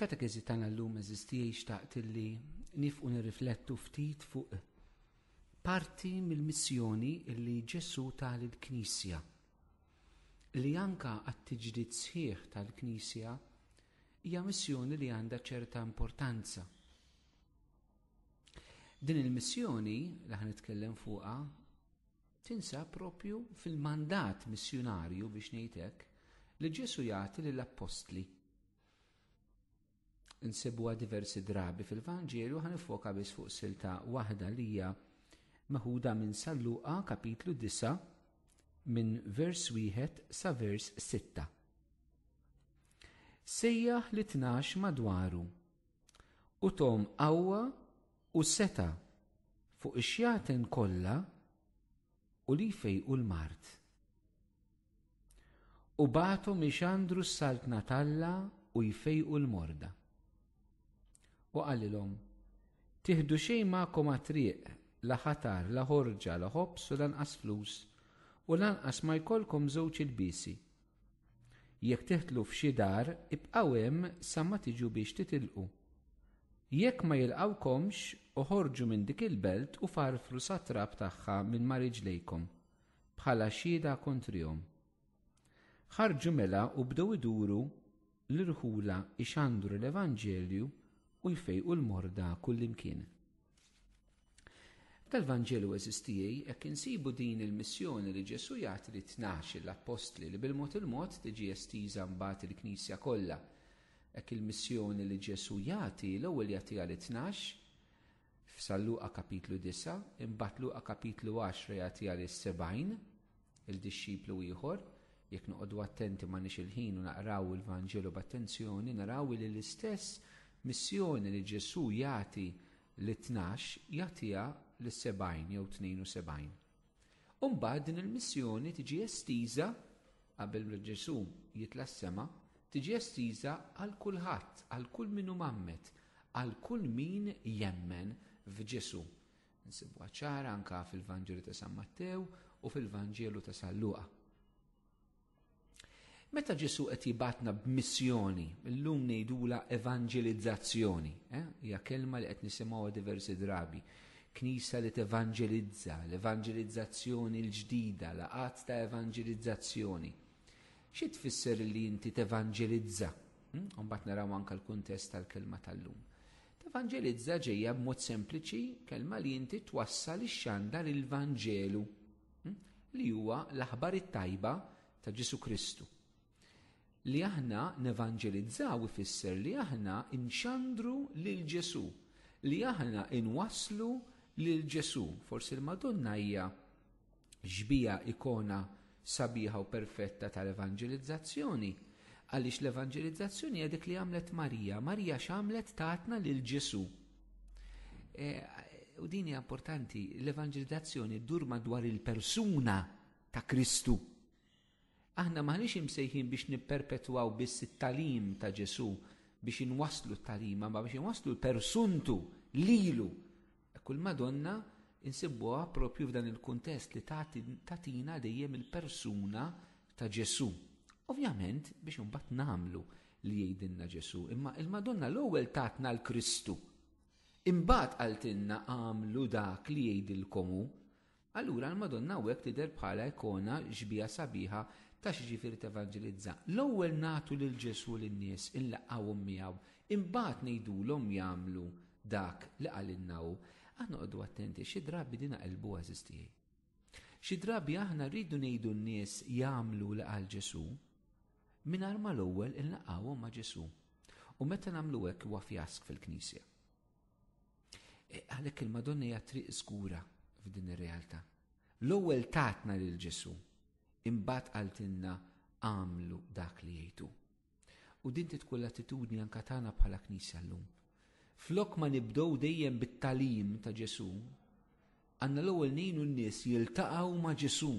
Katekizi tagħna llum eżistijie xtaqt illi nifqu nirriflettu ftit fuq parti mill-missjoni illi Ġesu ta' l-Knisja. Li anka għat-tiġdid sħiħ tal-Knisja hija missjoni li għandha ċerta importanza. Din il-missjoni li ħan nitkellem fuqha Tinsab propju fil-mandat missjunarju biex ngħidlek li Ġesu jagħti lill-appostli. Insibuha diversi drabi fil-Vanġelju ħan ifoka biss fuq silta waħda li hija meħuda minn Salluqa kapitlu 9 minn vers 1 sa vers 6. Sejjaħ li tnax madwaru U tom qawwa u seta' fuq ix-xjaten kollha u li jfejqu l-mard. U bagħathom ixandru s-saltna t'Alla u jfejqu l-morda. U qalilhom, Tieħdu xejn magħkom għat-triq, la ħatar, la ħorġa, la ħobż u lanqas flus, u lanqas ma jkollkom żewġ ilbiesi. Jekk teħtlu f'xi dar, ibqgħu hemm sa ma tiġu biex titilqu. Jekk ma jilqgħukomx, oħorġu minn dik il-belt u farfru sat-trab tagħha minn ma' riġlejkom, bħala xhieda kontrihom. Ħarġu mela u bdew iduru l-irħula jxandru l-evanġelju u jfejqu l-morda kullimkien. Tal-Vanġelu eżistijaj, hekk insibu din il-missjoni li Ġesu jagħti li tnax l-appostli li bil-mod il-mod tiġi estiża mbagħad il-Knisja kollha. Hekk il-missjoni li Ġesu jagħti l-ewwel jagħtiha li tnax f'San Luqa kapitlu 9, imbagħad Luqa kapitlu 10 jagħtiha li 70 il-dixxiplu ieħor, jekk noqogħdu attenti ma nix il-ħin u naqraw il-Vanġelu b'attenzjoni, naraw li l-istess missjoni li Ġesù jagħti lit-tnax jagħtiha lis-sebgħin jew 72. U mbagħad din il-missjoni tiġi estiża qabel Ġesù jitla' s-sema, tiġi estiża għal kulħadd, għal kull min hu mammet, għal kull min jemmen f'Ġesù. Insibuha ċara anke fil-Vanġelu ta' San Mattew u fil-Vanġelu ta' San Luqa. Meta Ġesu qed jibatna b'missjoni, illum ngħidula evanġelizzazzjoni, eh? hija kelma li qed nisimgħuha diversi drabi. Knisa li tevanġelizza, l-evanġelizzazzjoni l-ġdida, laqat ta' evanġelizzazzjoni. Xi tfisser li inti tevanġelizza? Hm? Mbagħad naraw anke l-kuntest tal-kelma tal-lum. Tevanġelizza ġejja b'mod sempliċi kelma li inti twassal ix-xandar il-Vanġelu hm, li huwa l-aħbar it-tajba ta' Ġesu Kristu. Li aħna nevanġelizzaw ifisser li aħna nxandru lil Ġesu, li aħna inwasslu lil Ġesu. Forsi l-Madonna hija xbieha ikona sabiħa u perfetta tal-evanġelizzazzjoni, għaliex l-evanġelizzazzjoni hija dik li għamlet Marija. Marija x'għamlet tatna lil Ġesu. E, u din hija importanti, l-evanġelizzazzjoni ddur madwar il-persuna ta' Kristu. Aħna m'aħniex imsejħin biex nipperpetwaw biss it-tagħlim ta' Ġesù biex inwasslu t-tagħlima imma biex inwasslu l-persuntu lilu. Hekk u l-Madonna insibbuha proprju f'dan il-kuntest li tagħti tagħtina dejjem il-persuna ta' Ġesù. Ovvjament biex imbagħad nagħmlu li jgħidilna Ġesù, imma il-Madonna l-ewwel tatna l-Kristu. Imbagħad qaltilna għamlu dak li jgħidilkom hu. Allura l-Madonna hawnhekk tidher bħala ikona xbieha sabiħa ta' x'jiġifieri tevanġelizza. L-ewwel nagħtu lil Ġesù lin-nies, inlaqqgħuhom miegħu, imbagħad ngħidulhom jagħmlu dak li qalilna hu. Aħna noqogħdu attenti għax xi drabi din naqilbuha għażiż tiegħi. Xi drabi aħna rridu ngħidu n-nies jagħmlu li qal Ġesù mingħajr ma l-ewwel inlaqqgħuhom ma' Ġesù. U meta nagħmlu hekk huwa fjask fil-Knisja. E, għalhekk il-Madonna hija triq żgura f'din ir-realtà. L-ewwel tatna lil Ġesu, imbagħad qaltilna għamlu dak li jgħidu. U din tkun l-attitudni anka tagħna bħala Knisja llum. Flok ma nibdew dejjem bit-talim ta' Ġesu, għandna l-ewwel ngħinu n-nies jiltaqgħu ma' Ġesu.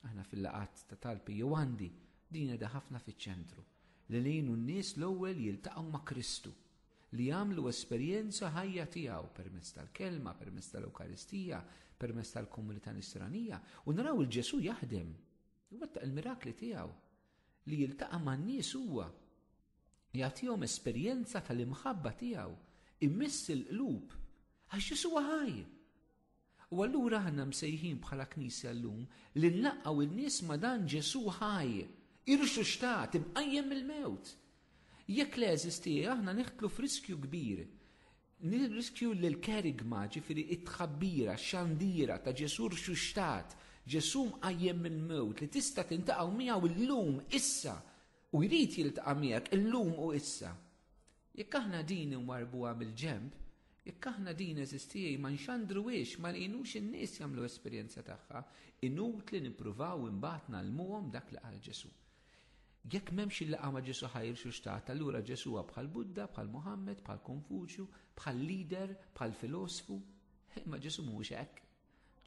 Aħna fil-laqgħat ta' tal-PU għandi din qiegħda ħafna fiċ-ċentru li ngħinu n-nies l-ewwel jiltaqgħu ma' Kristu, li jagħmlu esperjenza ħajja tiegħu permezz tal-Kelma, permezz tal-Ewkaristija, permezz tal-komunità nisranija u naraw il-Ġesu jaħdem, iwettaq il-mirakli tiegħu, li jiltaqa' man-nies huwa, jagħtihom esperjenza tal-imħabba tiegħu, imiss il-qlub, għax Ġesu ħaj! U allura aħna msejħin bħala Knisja llum li nlaqqgħu in-nies ma' dan Ġesù ħaj, irxuxtat, imqajjem mill-mewt. Jekk le, għeżiżti, aħna nidħlu f'riskju kbir. Nirriskju li l-kerigma, ġifieri t-tħabbira, x-xandira ta' Ġesù rxuxtat, Ġesù mqajjem mill-mewt li tista' tintaqgħu miegħu llum, issa, u jrid jiltaqa' miegħek illum u issa. Jekk aħna din inwarrbuha bil-ġenb, jekk aħna din, għeżiżtijiei, ma nxandruhiex, ma ngħinux in-nies jagħmlu esperjenza tagħha, inutli nippruvaw imbagħad ngħallmuhom dak li qal Ġesù. Jekk m'hemmx il-laqgħa ma' Ġesù ħajr x'hux tat, allura Ġesù huwa bħal Buddha, bħal Muħammad, bħal Konfuċju, bħal leader, bħal filosfu. Imma Ġesù mhuwiex hekk.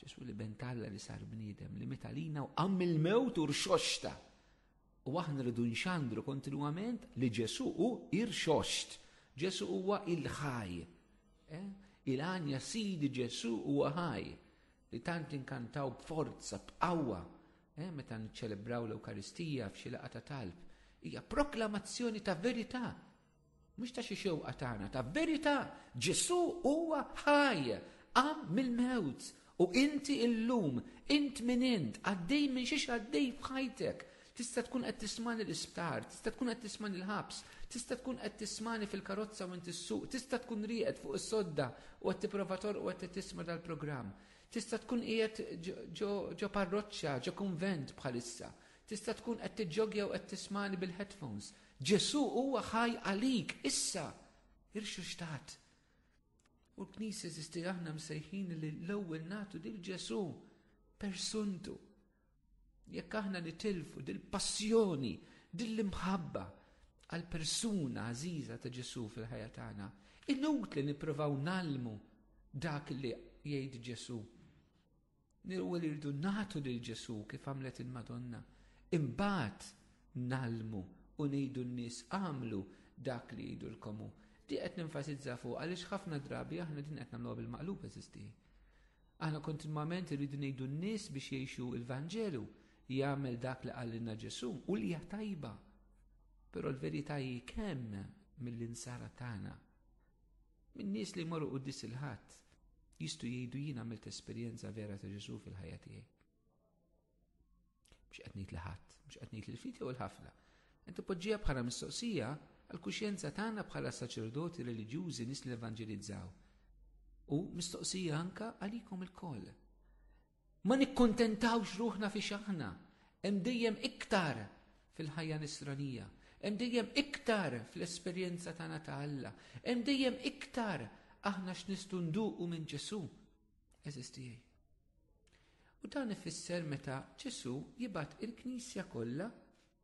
Ġesù li bent Alla li sar bniedem, li miet għalina u qamm il-mewt u rxoxta. U aħna rridu nxandru kontinwament li Ġesu u irxoxt. Ġesu huwa il-ħaj. Eh? Il-għanja sidi Ġesu huwa ħaj. Li tant inkantaw b'forza, b'qawwa. Eh? Meta niċċelebraw l-Ewkaristija f'xi laqgħa ta' talb. Hija proklamazzjoni ta' verità Mhux ta' xi xewqa tagħna, ta' verità, Ġesù huwa ħaj, qam mill-mewt, u inti illum, int min int, għaddej minn xiex għaddej f'ħajtek, tista' tkun qed tismani l-isptar, tista' tkun qed tismani l-ħabs, tista' tkun qed tismani fil-karozza u inti s-suq, tista' tkun rieqed fuq is-sodda u qed tipprova torq u qed tisma' dal-programm. Tista' tkun qiegħed ġo parroċċa, ġo kunvent bħalissa. Tista' tkun qed tiġġogja u qed tismani bil-headphones. Ġesù huwa ħaj għalik issa irxuxtat. U l-Knisja żisti aħna msejħin li l-ewwel nagħtu lil Ġesù persuntu. Jekk aħna nitilfu dil-passjoni, dil-imħabba għal persuna għażiża ta' Ġesù fil-ħajja tagħna, inut li nippruvaw nalmu dak li jgħid Ġesù. Nirwu li rridu nagħtu lil Ġesù kif għamlet il-Madonna. Imbagħad nalmu u ngħidu n-nies għamlu dak li jgħidulkomu. Di qed nenfasizza fuq għaliex ħafna drabi aħna din qed nagħmluha bil-maqlub eżisti. Aħna kontinwament irridu ngħidu n-nies biex jgħixu il-Vanġelu jagħmel dak li qalilna Ġesù u li tajba. Però l-verità hi kemm mill-insara tagħna Min-nies li jmorru quddis il-Ħadd jistgħu jgħidu jien għamilt esperjenza vera ta' Ġesu fil-ħajja tiegħi. Mhux qed ngħid li ħadd, mhux qed ngħid il-fidi u l-ħafna. Qed poġġija bħala mistoqsija għal kuxjenza tagħna bħala saċerdoti reliġjużi nies li evanġelizzaw. U mistoqsija anka għalikom il-koll. Ma nikkuntentawx ruħna fiex aħna, hemm dejjem iktar fil-ħajja nisranija, hemm dejjem iktar fl-esperjenza tagħna ta' Alla, hemm dejjem iktar aħna x'nistgħu nduqu minn Ġesu. Eżis tiegħi. U dan ifisser meta Ġesu jibgħat il-Knisja kollha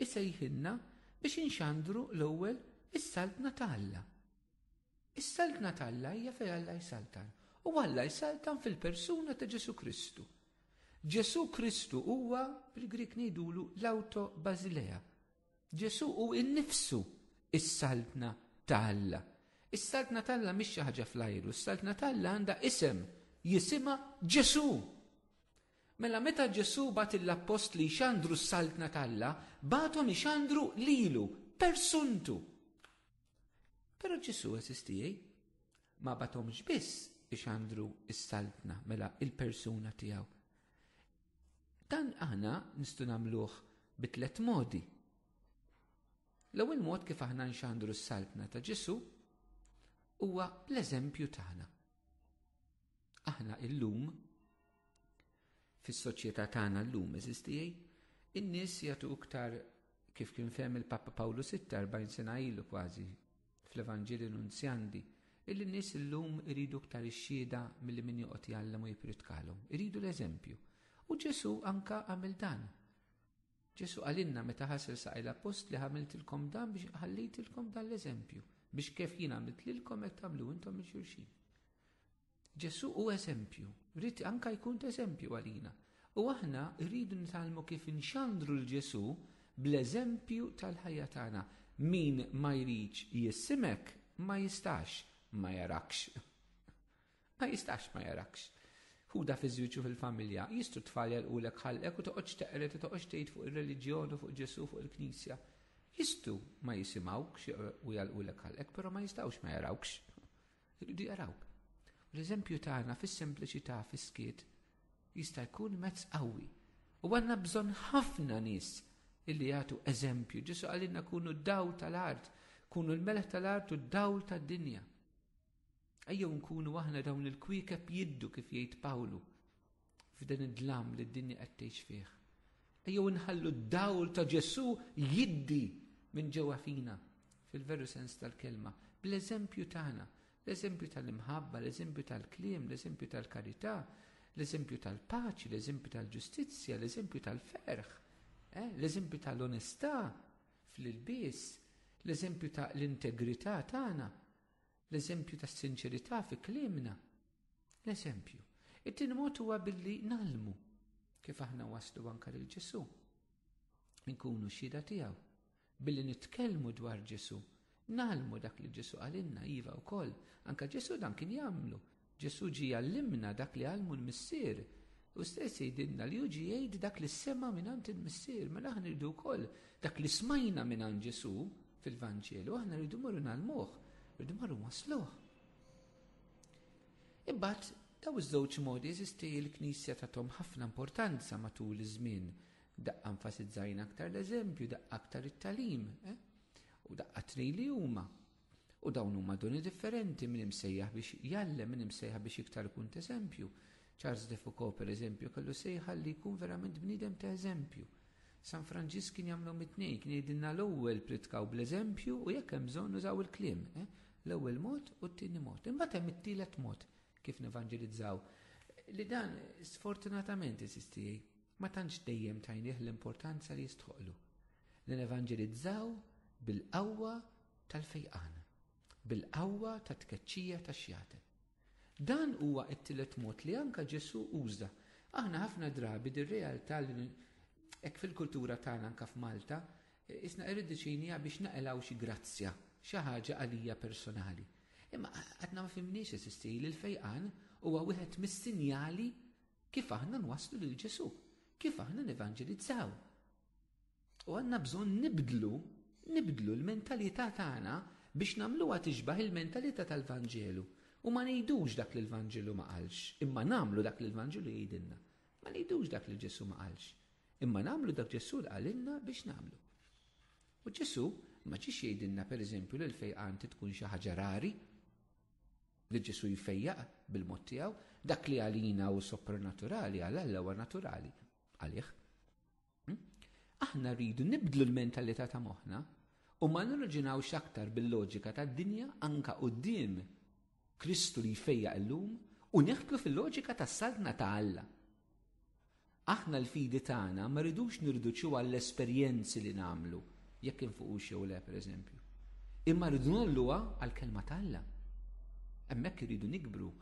isejħilna biex inxandru l-ewwel is-saltna ta' Alla. Is-saltna ta' Alla hija fejn Alla jsaltan, u Alla jsaltan fil-persuna ta' Ġesù Kristu. Ġesù Kristu huwa, bil-Grik ngħidulu, l-auto basilea. Ġesù hu innifsu is-saltna ta' Alla. Is-saltna ta' Alla mhix xi ħaġa fl-ajru, is-saltna ta' Alla għandha isem, jisimha Ġesù. Mela meta Ġesù bat l-appostli jxandru s-saltna t'Alla, bathom ixandru lilu, persuntu. Pero ġisu għazistijaj, ma batomx biss biex għandru s-saltna mela il-persuna tijaw. Dan aħna nistu namluħ bitlet modi. L-ewwel mod kif aħna nxandru s-saltna ta' Ġesu huwa l-eżempju tagħna. Aħna illum Fis-soċjetà tagħna llum, għeżież tiegħi, in-nies jagħtu iktar kif kien fehem il-Papa Pawlu Sitta erbgħin sena ilu kważi fl-Evanġelju Nunzjandi, illi n-nies illum iridu iktar ix-xhieda milli min joqgħod jgħallem u jippritkalhom. Iridu l-eżempju. U Ġesù anka għamel dan. Ġesù għalinna meta ħasel saqaj l-appostli ħamiltilkom dan biex ħallejtilkom dan l-eżempju biex kif jien għamilt lilkom qed tagħmlu intom il xulxin. Ġesù hu eżempju, ried anke jkun t'eżempju għalina. U aħna rridu nitgħallmu kif inxandru 'l Ġesù bl-eżempju tal-ħajja tagħna. Min ma jridx jissimek ma jistax ma jarakx. Ma jistax ma jarakx. Hu da fiż-żwieġ u fil-familja, jistru t-tfal jagħlqulek ħalqek u toqgħodx teqred u toqgħodx tgħid fuq ir-reliġjon u fuq Ġesù u fuq il-Knisja. Jistru ma jisimgħukx u jagħlqulek ħalqek, però ma jistgħux ma jarawkx. Iridu jaraw. L-eżempju tagħna fis-sempliċità fis-skiet jista' jkun mezz qawwi. U għandna bżonn ħafna nies illi jagħtu eżempju. Ġesu għalina kunu dawl tal-art, kunu l-meleħ tal-art u d-dawl tad-dinja. Ejjew nkunu aħna dawn il-kwiekeb jiddu kif jgħid Pawlu. F'dan id-dlam li d-dinja qed tgħix fih. Ejjew inħallu d-dawl ta' Ġesù jiddi minn ġewwa fina fil-veru sens tal-kelma, bl-eżempju tagħna, l-eżempju tal-imħabba, l-eżempju tal-kliem, l-eżempju tal-karità, l-eżempju tal-paċi, l-eżempju tal-ġustizzja, l-eżempju tal-ferħ, eh, l-eżempju tal-onestà fl-ilbies, l-eżempju tal-integrità tagħna. L-eżempju tas-sinċerità fi kliemna. L-eżempju. It-tieni mod huwa billi nalmu kif aħna waslu anke lil Ġesu. Inkunu xhieda tiegħu. Billi nitkellmu dwar Ġesu, nalmu dak li Ġesu qalilna iva wkoll. Anke Ġesu dan kien jagħmlu, Ġesù ġie jgħallimna dak li għallmu l-Missier. Hu stess jgħidilna li hu ġie jgħid dak li sema' mingħand il-Missier. Mela aħna rridu wkoll dak li smajna mingħand Ġesù fil-Vanġelu, aħna rridu morru nagħlmuh, rridu morru wasluh. Imbagħad daw iż-żewġ modi jeżisti l-Knisja tagħthom ħafna importanza matul iż-żmien. Daqqa enfasizzajna aktar l-eżempju, daqqa aktar it-talim, eh? u daqqa tnej li huma. U dawn huma doni differenti minn imsejjaħ biex jallem minn imsejjaħ biex iktar ikun t'eżempju. Charles de Foucault pereżempju kellu sejħa li jkun verament bniedem ta' eżempju. San Franġisk kien jagħmlu mit-tnejn, kien jgħidilna l-ewwel pritkaw bl-eżempju u jekk hemm bżonn użaw il-kliem. Eh? L-ewwel mod u t-tieni mod. Imbagħad hemm it-tielet mod kif nevanġelizzaw. Li dan sfortunatament isisti ma tantx dejjem tajnih l-importanza li jistħoqlu. Li nevanġelizzaw bil-qawwa tal-fejqan, bil-qawwa tat-tkeċċija tax-xjaten. Dan huwa t-tielet mod li anke Ġesù uża. Aħna ħafna drabi dir-realtà li hekk fil-kultura tagħna anke f'Malta, isna irridiċinija biex naqilgħu xi grazzja, xi ħaġa għalija personali. Imma għadna ma fimniex eżisti li l-fejqan huwa wieħed mis-sinjali kif aħna nwasslu lil Ġesù, kif aħna nevanġelizzaw. U għandna bżonn nibdlu, nibdlu l-mentalità tagħna biex nagħmluha tixbaħ il-mentalità tal-Vanġelu. U ma ngħidux dak li l-Vanġelu ma qalx, imma nagħmlu dak li l-Vanġelu jgħidilna. Ma ngħidux dak li Ġesu ma qalx, imma nagħmlu dak Ġesu li qalilna biex nagħmlu. U Ġesu ma ġiex jgħidilna pereżempju li l-fejqan tkun xi ħaġa rari, li Ġesu jfejjaq bil-mod tiegħu, dak li għalina u sopranaturali għal Alla huwa naturali għalih. Hm? Aħna rridu nibdlu l-mentalità ta' moħħna u ma nirraġinawx aktar bil-loġika tad-dinja anka quddiem Kristu li jfejja illum u neħtlu fil-loġika tas-saltna ta' Alla. Aħna l-fidi tagħna ma rridux nirduċu għall-esperjenzi li nagħmlu, jekk infuqux jew le pereżempju. Imma rridu nolluha għall-kelma ta' Alla. Hemmhekk irridu nikbru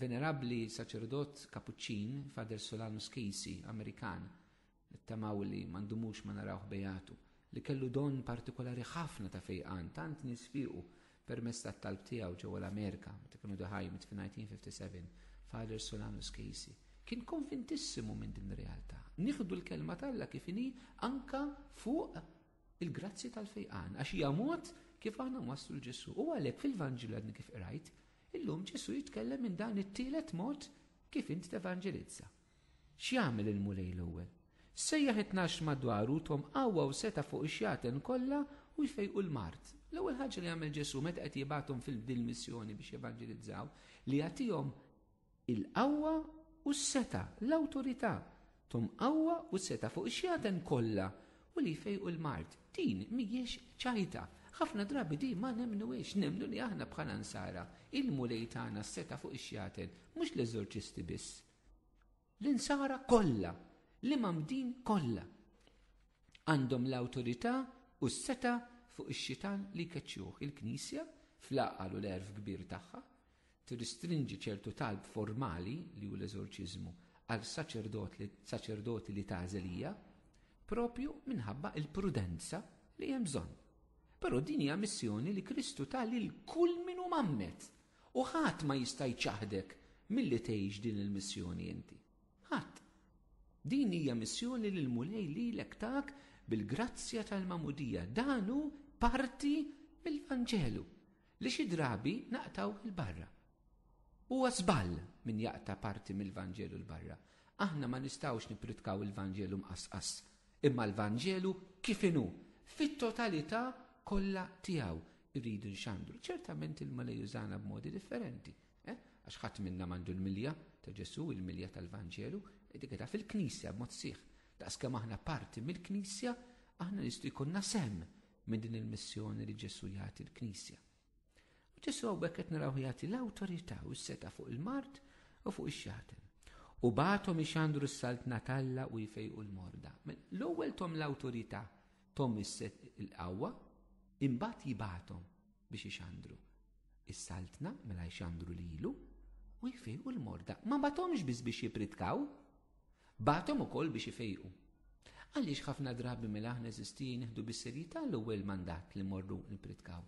Venerabbli saċerdot kapuċċin Fader Solanus Casey, Amerikan, tamaw li mandumux ma narawh bejatu, li kellu don partikolari ħafna ta' fejqan, tant nisfiqu permess ta' talb tiegħu ġewwa l-Amerika, meta kienu daħaj mit 1957, Fader Solanus Casey. Kien konvintissimu minn din realtà. Nieħdu l-kelma talla kif inhi anka fuq il-grazzi tal-fejqan, għax hija mod kif aħna waslu l-Ġesu. U għalhekk fil-Vanġil għadni kif qrajt, illum Ġesu jitkellem minn dan it-tielet mod kif int tevanġelizza. X'jagħmel il-Mulej l-ewwel? Sejjaħ it-tnax madwaru tom qawwa u seta' fuq ix-xjaten kollha u jfejqu l-mart. L-ewwel ħaġa li jagħmel Ġesu meta qed jibgħathom fil-din missjoni biex jevanġelizzaw li jagħtihom il-qawwa u s-setgħa, l-awtorità, thom qawwa u setgħa fuq ix-xjaten kollha u li jfejqu l-mard. Din mhijiex ċajta. Ħafna drabi din ma nemmnuhiex. Nemmnu li aħna bħala Nsara, il-Mulej tana s-setgħa fuq ix-xjaten, mhux l-eżorċisti biss. L-Insara kollha, l-imamdin kollha, għandhom l-awtorità u s-setgħa fuq ix-xitan li jkeċċuh il-Knisja fl-għaqal u l-għerf kbir tagħha, tirristrinġi ċertu talb formali, li hu l-eżorċiżmu, għal saċerdoti li tagħżel hija, proprju minħabba l-prudenza li hemm bżonn. Però din hija missjoni li Kristu ta lil kull min hu mammet u ħadd ma jista' jċaħdek milli tgħix din il-missjoni inti. Ħadd. Din hija missjoni li l-Mulej lilek tak bil-grazzja tal-mamudija. Dan hu parti mill-Vanġelu. li xi drabi naqtaw il-barra. Huwa żball min jaqta' parti mill-Vanġelu l-barra. Aħna ma nistgħux nippritkaw il-Vanġelu mqasqas, imma l-Vanġelu kif inhu, fit-totalità kollha tiegħu irridu nxandru. Ċertament il-Mulej jużana b'modi differenti. Eh? Għax ħadd minna mandu l-milja ta' Ġesu, il-milja tal-Vanġelu, dik ta' fil-Knisja b'mod sieħ. Daqskemm aħna parti mill-Knisja, aħna nistgħu jkunna sem minn din il-missjoni li Ġesu jagħti l-Knisja. U Ġesu għawbek qed naraw jagħti l-awtorità u s-seta fuq il-mart u fuq ix-xatem. U batom ixandru s-saltna talla u jfejqu l-morda. L-ewwel tom l-awtorità tom is-set il-qawwa, imbagħad jibatom biex ixandru. Is-saltna mela jxandru lilu u jfejqu l-morda. Ma batomx biss biex jipritkaw, Bagħathom ukoll biex ifejqu. Għaliex ħafna drabi mela aħna eżistin nieħdu bis-serjetà l-ewwel mandat li mmorru nippritkaw,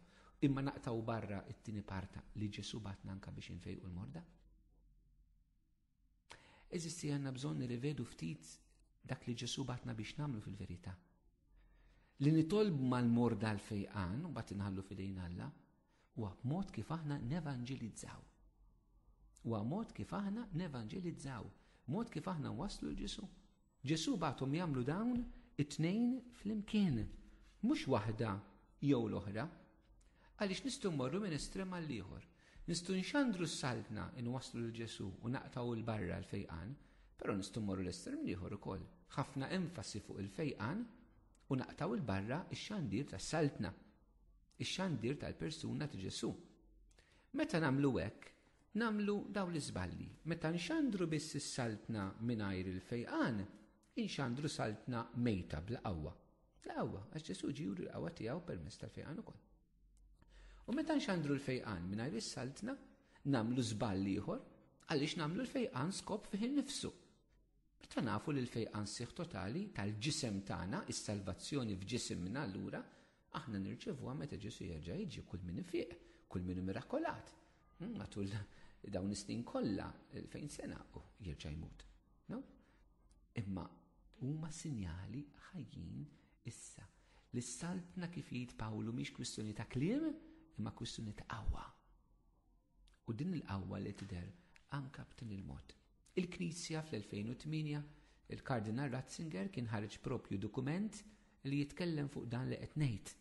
imma naqtgħu barra t-tieni parta li Ġesù bagħatna anke biex infejqu l-morda? Eżisti għandna bżonn nirrivedu ftit dak li Ġesu batna biex namlu fil-verità. Li nitolb mal-morda l-fejqan, u bat inħallu fidejn Alla, Huwa mod kif aħna nevanġilizzaw. Huwa mod kif aħna nevanġilizzaw, mod kif aħna nwasslu l-Ġesu. Ġesu bagħthom jagħmlu dawn it-tnejn flimkien, mhux waħda jew l-oħra, għaliex nistgħu mmorru minn estrem għall-ieħor. Nistgħu nxandru s-saltna inwasslu lil Ġesu u naqtgħu l barra l-fejqan, però nistgħu mmorru l-estrem l-ieħor ukoll. Ħafna enfasi fuq il-fejqan u naqtgħu l barra x-xandir tas-saltna. ix-xandir tal-persuna ta' Ġesù. Meta nagħmlu hekk, nagħmlu dawn l-iżballi. Meta nxandru biss is-saltna mingħajr il-fejqan, inxandru saltna mejta bla qawwa. La qawwa, għax Ġesù ġi juri l-qawwa tiegħu permezz tal-fejqan ukoll. U meta nxandru l-fejqan mingħajr is-saltna, nagħmlu żball ieħor għaliex nagħmlu l-fejqan skop fih innifsu. Meta nafu li l-fejqan siħ totali tal-ġisem tagħna, is-salvazzjoni f'ġisimna allura, Aħna nirċevuha meta Ġesu jerġa' jiġi kull min ifiq, kull min mirakolat. Hmm, matul dawn is-snin kollha fejn sena u jerġa' jmut. No? Imma huma sinjali ħajjin issa. L-saltna kif jgħid Pawlu mhix kwistjoni ta' kliem, imma kwistjoni ta' qawwa. U din il-qawwa li tidher anka b'tin il-mod. Il-Knisja fl-2008 il-Kardinal Ratzinger kien ħareġ propju dokument li jitkellem fuq dan li qed ngħid.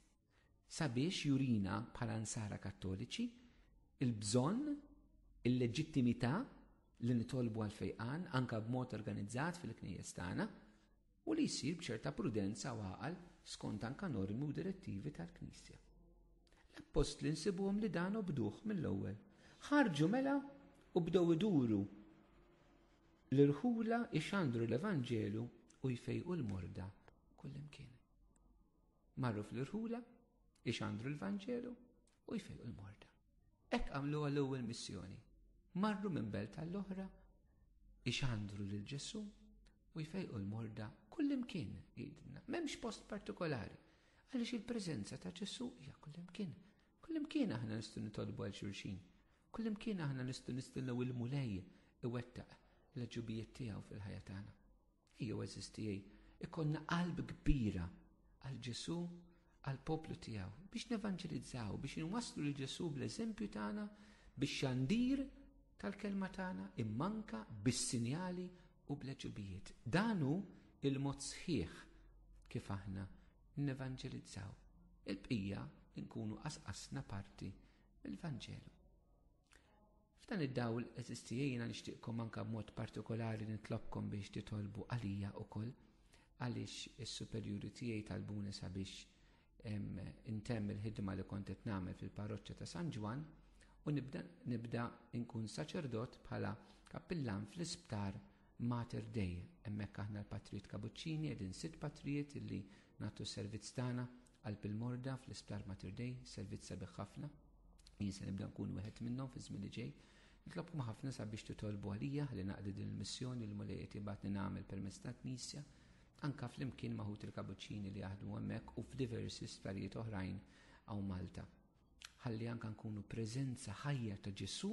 Sabiex jurina bħala nsara kattoliċi il-bżonn, il-leġittimità li nitolbu għal fejqan anka b'mod organizzat fil-knejjes tagħna, u li jsir b'ċerta prudenza u għaqal skond anka normi u direttivi tal-Knisja. L-Appostli nsibuhom li dan obduh mill-ewwel. Ħarġu mela u bdew iduru l-irħula ixandru l-Evanġelu u jfejqu l-morda kullimkien. Marru fl-irħula, ixandru l-Vanġelu, u jfejqu l-morda. Hekk għamlu għall-ewwel missjoni. Marru minn belt għall-oħra, ixandru lil Ġesu u jfejqu l-morda kullimkien jgħidilna. M'hemmx post partikolari għaliex il-preżenza ta' Ġesu hija kullimkien. Kullimkien aħna nistgħu nitolbu għal xulxin. Kullimkien aħna nistgħu nistennew il-mulej iwettaq l-ġubijiet tiegħu fil-ħajja tagħna. Jew eżiz tiegħi, ikollna qalb kbira għal Ġesu għal poplu tiegħu biex nevanġelizzaw, biex inwasslu lil Ġesu bl-eżempju tagħna biex xandir tal-kelma tagħna immanka bis-sinjali u bl-eġubijiet. Dan hu il-mod sħiħ kif aħna nevanġelizzaw. Il-bqija nkunu qasqasna parti mill-Vanġelu. F'dan id-dawl eżistija jiena nixtieqkom anke b'mod partikolari nitlobkom biex titolbu għalija wkoll għaliex is-superjuri tiegħi talbuni sabiex intemm il-ħidma li kont qed nagħmel fil-parroċċa ta' San Ġwann u nibda nibda nkun saċerdot bħala kappillan fl-isptar Mater Dei. Hemmhekk aħna l-Patrijiet Kabuċċini qegħdin sitt patrijiet illi nagħtu servizz tagħna Qalb il-morda fl-Isptar Mater Dei, servizz sabiħ ħafna. Jien se nibda nkun wieħed minnhom fi żmien li ġej. Nitlobkom ħafna sabiex titolbu għalija li naqdi din il-missjoni li mulej qed ibgħatni nagħmel permezz ta' knisja, anka flimkien maħut il-kabuċċini li jaħdmu hemmhekk u f'diversi sptarijiet oħrajn għaw Malta. Ħalli anka nkunu preżenza ħajja ta' Ġesu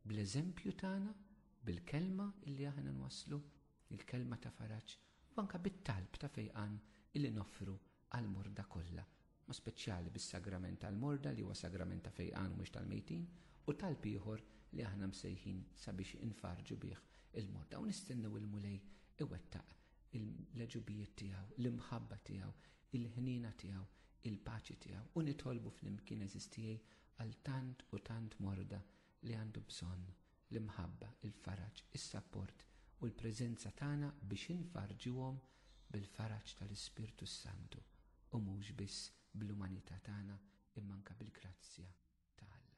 bl-eżempju tagħna, bil-kelma illi aħna nwasslu, il-kelma ta' faraġ, u anka bit-talb ta' fejqan illi noffru għall-morda kollha, ma speċjali bis-sagrament tal-morda li huwa sagrament ta' fejqan u mhux tal-mejtin, u talb ieħor li aħna msejħin sabiex infarrġu bih il-morda u nistennew il-Mulej iwettaq il-leġubijiet tiegħu, l-imħabba tiegħu, il-ħniena tiegħu, il-paċi tiegħu u nitolbu flimkien eżistijej għal tant u tant morda li għandu bżonn l-imħabba, il-faraġ, is-sapport u l-preżenza tagħna biex infarrġuhom bil-faraġ tal-Ispirtu s-Santu u mhux biss bl-umanità tagħna imma anke bil-grazzja ta' Alla.